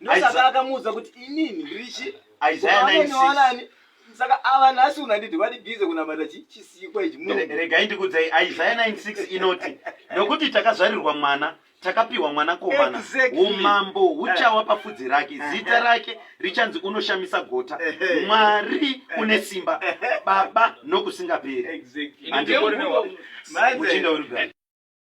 ndosaka akamuudza kuti inini ndirichi isaya 96 saka ava nhasi unanditi vati bize kunamata chi chisikwa ichi regai ndikudzai isaya 96 inoti nokuti takazvarirwa mwana takapiwa mwana komana exactly. umambo huchawa pafudzi rake eh. zita rake richanzi unoshamisa gota eh, eh. mwari une simba baba nokusingaperi exactly.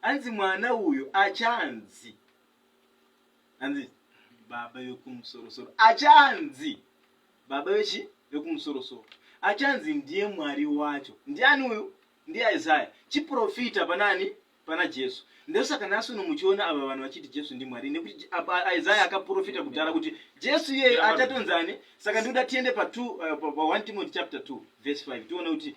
hanzi mwana uyo achanzi hanzi baba vekumusorosoro achanzi baba vechi vekumusorosoro achanzi ndiye mwari wacho ndiani uyu ndiye isaya chiprofita panani pana jesu ndosaka nhasi uno muchiona ava vanhu vachiti jesu ndimwari nekuti isaya akaprofita kudhara kuti jesu iyeyo achatonzani saka ndikuda tiende pa 1 uh, timothy chapter 2 verse 5 tione kuti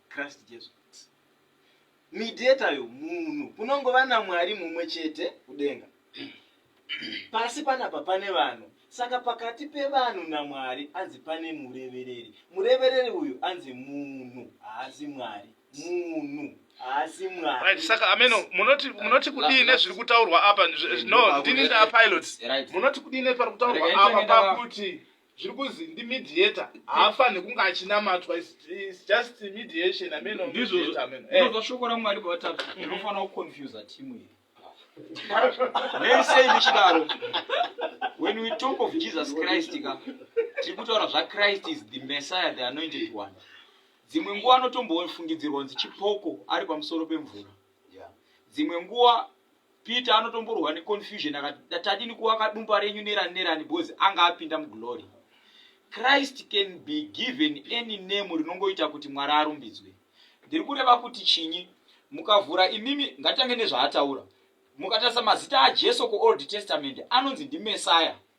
Christ Jesu. Mediator yo munhu kunongova naMwari mumwe chete kudenga. Pasi panapa pane vanhu saka pakati pevanhu naMwari anzi pane murevereri. Murevereri uyu anzi munhu haasi Mwari. Munhu haasi Mwari. Right, saka ameno munoti munoti kudii nezviri kutaurwa apa? No, ndini nda pilots. Munoti kudii nepari kutaurwa apa pakuti zviri kuzi ndi mediator haafanhe kunge achinamatwa is just mediation ameno ndizvozvo eh. shoko ramwari bavatatu ndinofanira mm. kuconfusa timu iri neisei ndichidaro when we talk of jesus christ ka tiri kutaura zvachrist is the messiah the anointed one dzimwe nguva anotombofungidzirwa kunzi chipoko ari pamusoro pemvura dzimwe nguva Peter anotomborwa neconfusion akati tadini kuwaka dumba renyu nerani nerani bozi anga apinda muglory. Christ can be given any name rinongoita kuti Mwari arumbidzwe. Ndiri kureva kuti chinyi? Mukavhura imimi ngatitange nezvaataura. Mukatarisa mazita aJesu kuOld Testament anonzi ndiMessiah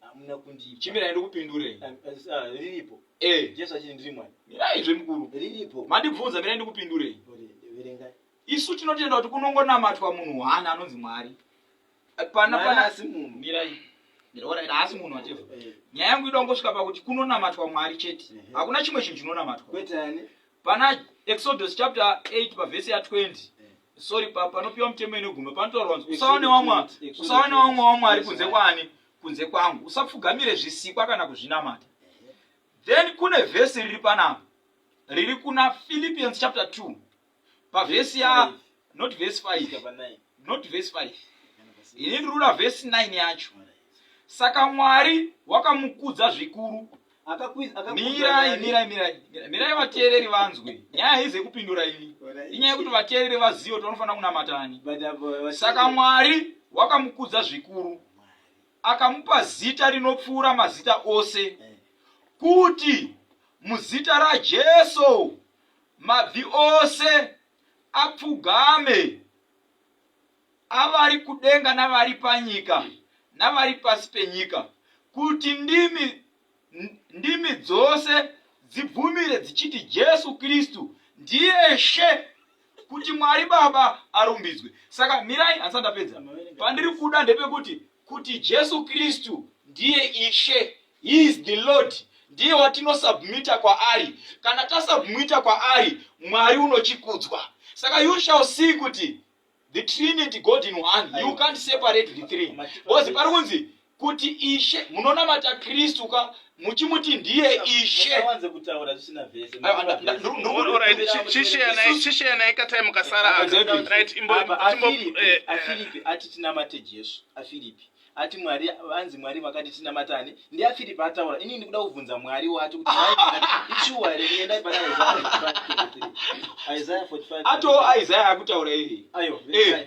hamuna kundipa chimirai ndikupindurei Ah, ah, riripo eh jesu achiti ndiri mwari mirai zvemukuru riripo mandibvunza mirai ndikupindurei Kuti verengai isu tinotenda kuti kunongonamatwa munhu one anonzi mwari Eh, pana Mwari pana asi munhu. mirai mirai haasi munhu watefa Eh, nyaya yangu ida kungosvika pakuti kunonamatwa mwari chete Ehe. hakuna chimwe chinhu chinonamatwa kwete ani pana exodus chapter 8 pavhesi ya 20 sorry pa panopiwa mutemo inoguma panotaurwa kunzi usaone wamwa usaone wamwa wamwari kunze kwani kunze kwangu usapfugamire zvisikwa kana kuzvinamata then kune vhesi riri panapa riri kuna philippians chapter 2 pavhesi ya not vhesi 5 not vhesi 5 ini ndiri kuda vhesi 9 yacho saka mwari wakamukudza zvikuru mirai mirai mirai mirai vateereri vanzwe nyaya haize kupindura iyi inyaya yekuti vateereri vazive kuti vanofanira kunamatani saka mwari wakamukudza zvikuru akamupa zita rinopfuura mazita ose eh. kuti muzita rajesu mabvi ose apfugame avari kudenga navari panyika navari pasi penyika, kuti ndimi, ndimi dzose dzibvumire dzichiti Jesu Kristu ndiye She, kuti Mwari Baba arumbidzwe. Saka mirai, handisati ndapedza. Pandiri kuda ndepekuti kuti Jesu Kristu ndiye Ishe, he is the Lord ndiye watinosubmita kwaari. Kana tasubmita kwaari, Mwari unochikudzwa. Saka you shall see kuti the trinity god in one you can't separate the three because pari kunzi kuti ishe munonamata kristu ka muchimuti ndiye ishe chisheyanai katai mukasara ati tinamate jesu afiripi ati mwari vanzi mwari vakati tinamatane ndiafiripi ataura inini ndikuda kubvunza mwari wacho kuti ishuwa here kuendai pana isaya 45 ato isaya akutaura iri ayo eh,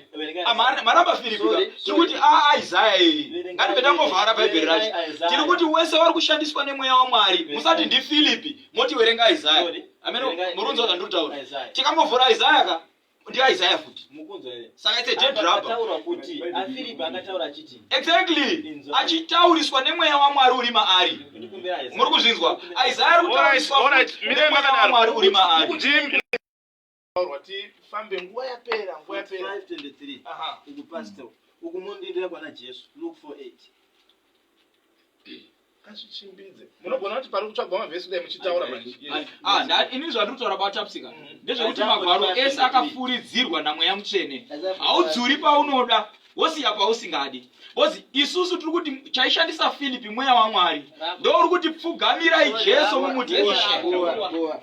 maramba firipi tiri kuti aisaya iri ngatibe tangovhara bhaibheri racho tiri kuti wese wari kushandiswa nemweya wamwari musati ndifilipi moti werenga isaya amene murunzi wazvandiri kutaura tikangovhura isaya ka ndiaisaya futi saka ite jedrabataura kuti afiripi akataura achiti exactly achitauriswa nemweya wamwari uri maari muri kuzvinzwa isaya ari kutauriswa mwari uri maari tifambe nguva yapera nguva yapera 523 uku pastor uku mondindira kwana jesu luke 48 ngazvichimbidze munogona kuti pari kutsvagwa mavhesi kudai muchitaura manje Ah, nda- inini zvandiri kutaura kwatapsika ndezvekuti magwaro ese akafuridzirwa namweya mutsvene haudzuri paunoda wosiya pausingadi bcause isusu tiri kuti chaishandisa filipi mweya wamwari ndouri kuti pfugamirai jesu mumuti ishe Boa, boa.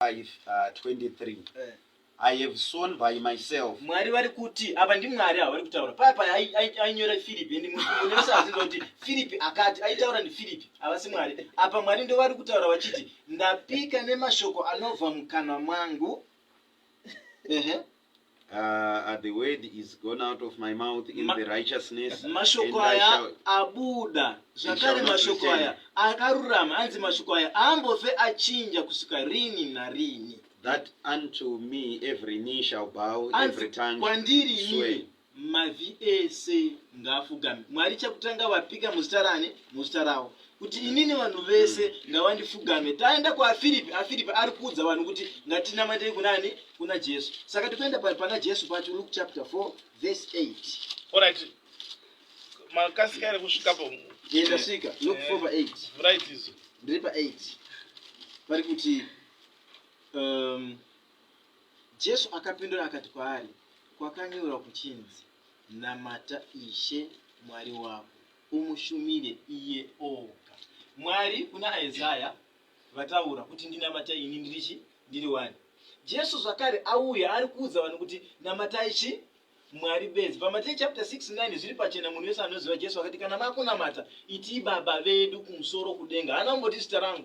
5:23 I have sown by myself. Mwari vari kuti apa ndiMwari avari kutaura paya paya ai- ai- ainyora Philip and munhu wese aziva kuti Philip akati aitaura ndiPhilip havasi Mwari apa Mwari ndovari kutaura vachiti ndapika nemashoko anobva mukanwa mwangu Ehe. Uh, the word is gone out of my mouth in Ma- the righteousness. mashoko and I aya shall- abuda shall zvakare not mashoko return. aya akarurama anzi mashoko aya aambofe achinja kusvika rini narini That unto me every knee shall bow, every anzi tongue kwandiri swear. ini Mavi ese ngaafugame. Mwari chakutanga vapika muzita rani? Muzita ravo. Kuti inini vanhu vese mm. ngavandifugame. Taenda kwaFiripi, aFiripi ari kuudza vanhu kuti ngatinamatei kunani? Kuna Jesu. Saka tikuenda pana Jesu pacho Luke chapter 4 verse 8. Alright. Makasika ere kusvikapo? Ye ndasvika. Luke 4 verse 8. Right izo. Ndiri pa 8. Vari kuti um, Jesu akapindura akati kwaari, Kwakanyorwa kuchinzi, Namata Ishe Mwari wako, umushumire iye oga. Mwari kuna Isaya vataura kuti, Ndinamata ini ndiri chi? Ndiri wani? Jesu zvakare auya ari kuudza vanhu kuti, Namatai chi? Mwari bedzi. PaMateyu chapter 6 9 zviri pachena munhu wese anoziva Jesu akati kana makunamata itii baba vedu kumusoro kudenga. Haana kumboti zita rangu.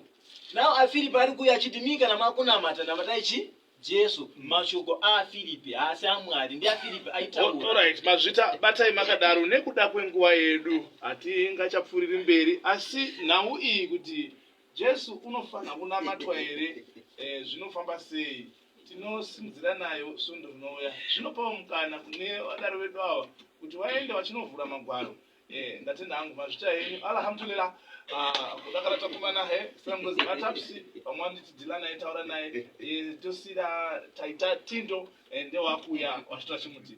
Now aFiripi ari kuuya achiti mii kana makunamata namatai chi Jesu. Mashoko aFiripi haasi aMwari ndiaFiripi All aitaura. right, mazvita batai makadaro nekuda kwenguva yedu hatingachapfuuriri mberi asi nhau iyi kuti Jesu unofanira kunamatwa here eh, zvinofamba sei tinosimudzira nayo svondo rinouya zvinopawo mukana kune vadaro vedu ava kuti vaende vachinovhura magwaro eh, ndatenda hangu mazvita enyu alhamdulillah ah, kudakara takumana he sangozi vatapsi vamwe vanditi dilana aitaura naye eh, tosira taita tindo eh, ndewakuya wazvita chimuti